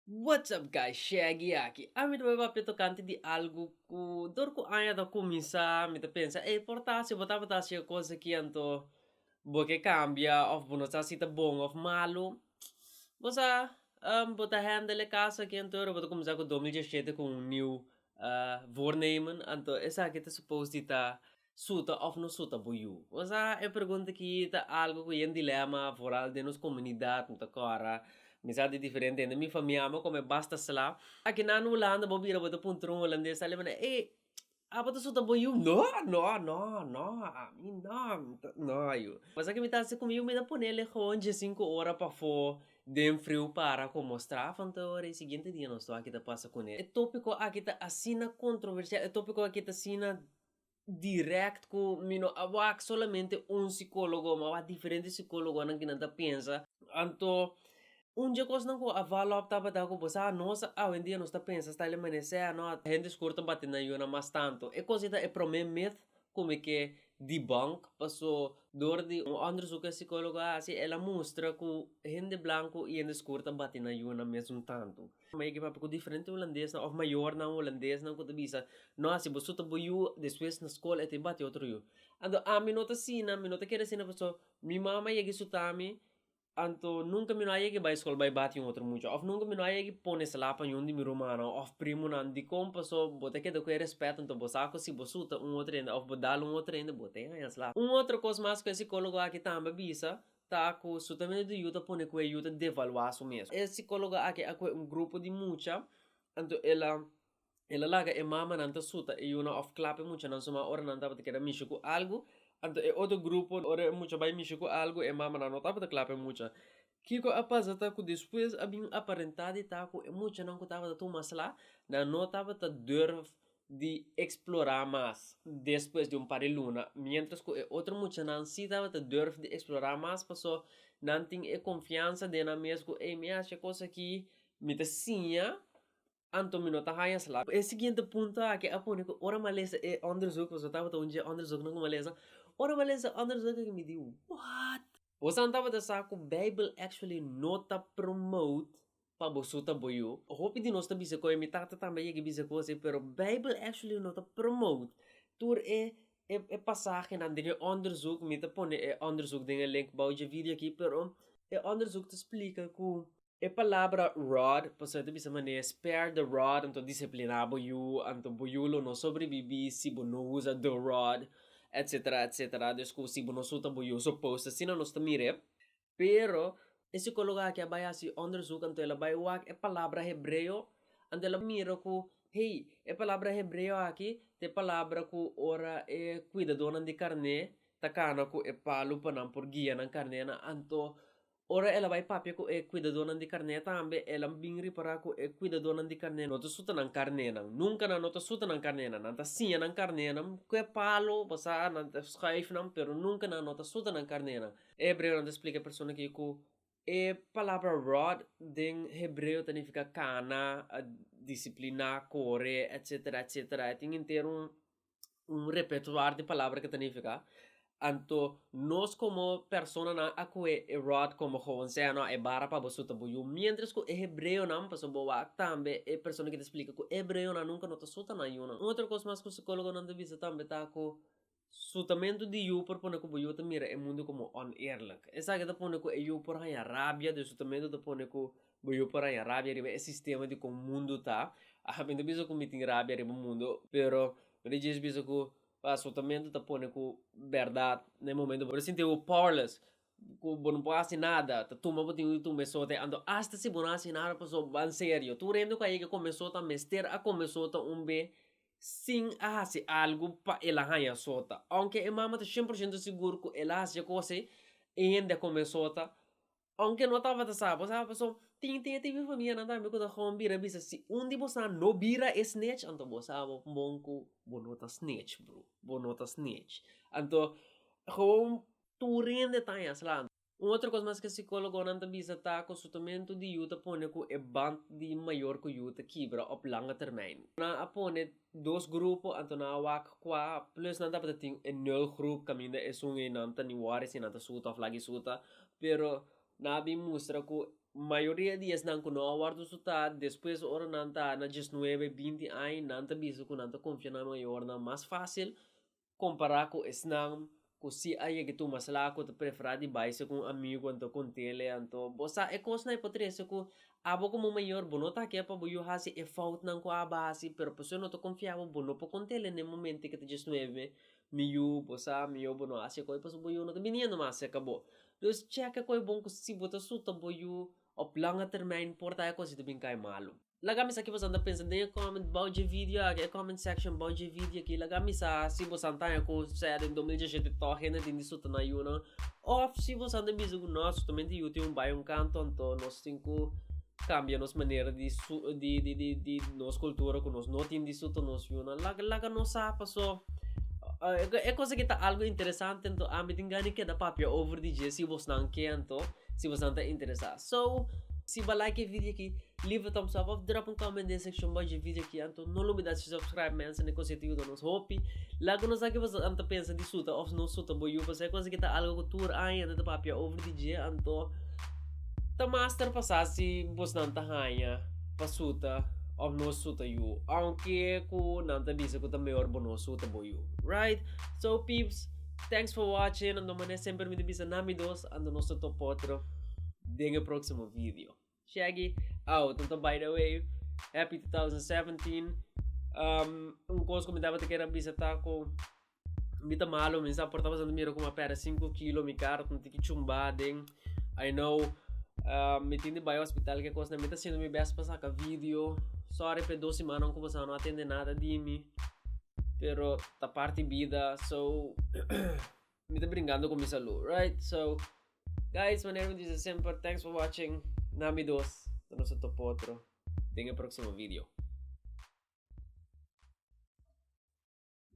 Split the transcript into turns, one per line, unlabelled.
What's up guys Shaggy aki. A mi ta wak e papia tokante di algu ku dor ku aña ta kuminsá mi ta pensa ey por ta si bo tabata hasi e kos aki anto bo ke kambia of bo no sa si ta bon of malu bo sa bo ta hendel e kas aki anto ora bo ta kuminsá ku domi djeshete ku un niu voornemen anto esaki ta supos di ta Suta of no suta bo yu? Nos a e pregunta aki ta algo ku yen dilema vooral den nos komunidat, mi ta kòrda mi sa di diferente hende mi famia bo kome basta sla. Aki na Hulanda bo bira bo ta puntra un hulandes ta lembra ey abo ta suta bo yu? No no no no ami no mi ta no yu. Pasa ke mi ta hasi ku mi yu mi ta pone lehoon dje sinku ora pafó den friu para ku mostra afan ta ora e siguiente dia nos sto aki ta pasa kune. E topiko aki ta asina kontroversial e topiko aki ta asina direct cu mi no a wak solamente un psicologo mi a wak diferente psicologonan kinan ta pensa anto un dje cosnan cu a val up tabata cu bo sa nos awendia nos ta pensa sta el a menese ano a hende scor ta bati nan yuna mas tanto e cos ei ta e prome myth cu mi ke debunk paso door di un onderzoek cu e psicologo a haci el a mustra cu hende blanco y hende scor ta bati nan yuna mesun tanto. Kuma e papia ku diferente hulandesnan òf mayornan hulandesnan ku ta bisa, no hasi bo su ta bo yu, despues na skol e ta bati otro yu. Anto ami no ta asina, mi no ta kere asina pasobra mi mama a yega sutami, anto nunka mi no a yega bai skol bai bati un otro mucha òf nunka mi no a yega pone salak pa yun di mi rumannan òf primonan. Dikon pasó? Bo ta keda ku e respeto, anto bo sa ku si bo suta un otro hende òf bo dal un otro hende bo ta haña salak. Un otro kos mas ku e sikólogo aki tambe a bisa, Ta cu su término di yu ta pone cu e yu ta devaluá su mes. E psicólogo aki a coge un grupo di mucha, anto el a el a laga e mamanan ta suta e yunan of clap e muchanan suma ora nan tabata keda mishi cu algu. Anto e otro grupo ora e mucha bai mishi cu algu e mamanan no tabata clap e mucha. Kico a pasa ta cu despues a bin aparentá di ta cu e muchanan cu tabata tuma slá nan no tabata durf di eksplorá mas despues di un par di luna, miéntras ku e otro muchanan sí tabata durf di eksplorá mas pasó nan tin e konfiansa den nan mes ku, ey, mi hash e kos aki, mi ta siña, anto mi no ta haña slap. E siguiente punto aki a pone ku ora mi a lesa e òndersuk, pasobra tabata un dje òndersuknan ku mi a lesa, ora mi a lesa e òndersuk aki mi di, What! Bosan tabata sa ku Beibel actually no ta promote pa bo su ta bo yu. Hopi di nos ta bisa koe mi tata tambe a yega bisa cos ey pero bijbel actually no ta promote tur e e pasahenan den e onderzoek mi ta pone e onderzoek den e link bou dje video aki pero e onderzoek ta splica cu e palabra rod pasobra e ta bisa manera spare the rod anto disciplina bo yu anto bo yu lo no sobrebibi si bo no usa the rod etcetera etcetera dus cu si bo no su ta bo yu suppose asina nos ta mira Pero, e sikólogo aki a bai hasi òndersuk, anto el a bai wak e palabra hebreo, anto el a mira ku, hey, e palabra hebreo aki ta e palabra ku ora e kuidadónan di karné ta kana ku e palu pa nan por guia nan karnénan. Anto, ora el a bai papia ku e kuidadónan di karné tambe, el a bin ripará ku e kuidadónan di karné no ta suta nan karnénan. Nunka nan no ta suta nan karnénan. Nan ta siña nan karnénan ku e palu, bo sa, nan ta schuif nan, pero nunka nan no ta suta nan karnénan. Hebreonan ta splika e persona aki ku e palabra rod den hebreo ta nifiká kana, disipliná, kore, etsetera, etsetera. E tin henter un un repertuar di palabra ku ta nifiká. Anto nos komo personanan a ku'e e rod komo gewoon sea nò e bara pa bo suta bo yu, miéntras ku e hebreonan, pasobra bo wak tambe e persona aki ta splika ku hebreonan nunka no ta suta nan yu. Un otro kos mas ku sikólogonan ta bisa tambe ta ku Su tamentu di yu por pone ku bo yu ta mira e mundu komo oneerlik. Esaki ta pone ku e yu por haña rabia, dus su tamentu ta pone ku bo yu por haña rabia riba e sistema di kon mundu ta. Mi no ta bisa ku mi tin rabia riba mundu, pero mi ta djis bisa ku su tamentu ta pone ku bèrdat na e momentu bo ta sinti bo powerless, ku bo no por hasi nada, ta tuma bo tin di tuma e sote. Anto asta si bo no hasi nada pasobra bo a serio. Tur hende ku a yega kome sot a mester a kome sot ta un be sin a hasi algu pa el a haña sota. Aunke e mama ta shen por shento sigur ku el a hasi e kos ei, e hende a kome sota, aunke no tabata sa. Bo sa pasobra tin tin e tipo di famianan tambe ku ta kon bira bisa si un di bosan no bira e snitch anto bo sa bo bon ku bo no ta snitch, bro, bo no ta snitch. Anto, houn tur hende ta haña sla. Un otro cos mas cu e psicologonan ta bisa ta cu sotomentu di yu ta pone cu e band di mayor cu yu ta kibra op langa termijn. Nan a pone dos grupo, anto nan a wak cua plus nan tabata tin e nul groep caminda esun ei nan ta ni worry si nan ta suta of lagi suta, pero nan a bin mustra cu mayoria di esnan cu no a wordo suta despues ora nan ta na diesnuebe, binti aña nan ta bisa cu nan ta confia na mayornan mas facil Kompará ku esnan ku si a yega tuma sla'a ku ta preferá di baise ku un amigu anto ku un tele anto. Bo sa e kosnan e por trese ku abo komo mayor bo no ta ke pa bo yu hasi e foutnan ku abo a hasi pero pasobra no ta konfia abo bo no por kon tele n'e momento ei ku ta djesnuebe mi mi yu bo sa mayor bo no hasi e kos pasobra bo yu no ta biniendo mas serka bo. Dus cheka ku e bon ku si bo ta suta bo yu op langa termijn por ta e kos ei ta bin kai malu. Laga mi sa ki boso ta pensa den e comment bou dje video aki e comment section bou dje video aki laga mi sa si boso a taña cu sea den dos mil diecisiete toda hende tin di su tana yunan of si boso a bisa cu nos justamente yu tin un bai un kanto anto nos tin cu cambia nos manera di su di di di di nos cultura cu nos no tin di su ta nos yunan laga laga nos sa paso e cosa aki ta algo interesante anto ami tin gana di keda papia over di dje si bosnan ke anto si bosnan ta interesa so si bo like e video aki. Leave a thumbs up of drop un comment den seccion bajo e video aki anto no lo olbida si subscribe mensen e cosa ta yuda nos hopi laga nos sa kico boso ta pensa di suta of no suta bo yu pasobra e cosa aki ta algo cu tur aña hende ta papia over di dje anto ta mas ta repasa si bos nan ta haña pa suta of no suta yu aunke cu nan ta bisa cu ta mehor bo no suta bo yu right so peeps thanks for watching anto manera semper mi ta bisa na mi dos anto nos ta topa otro den e proximo video. Shaggy out anto by the way happy 2017 um, un kos ku mi tabata kere bisa ta ku mi ta malo mi sa por ta pasando miro kuma perde 5 kilo mi kar ta tiki chumba den I know um, mi tin di bai hospital ke kos na mi ta siendo mi best pa saka video sorry pe dos semanan ku pasa no atende nada di mi pero ta parti bida so Mi ta brinkando ku mi salud, right? So, guys, manera mi dise semper, thanks for watching. Na mi dos, ta nos a topa otro den e proksimo video.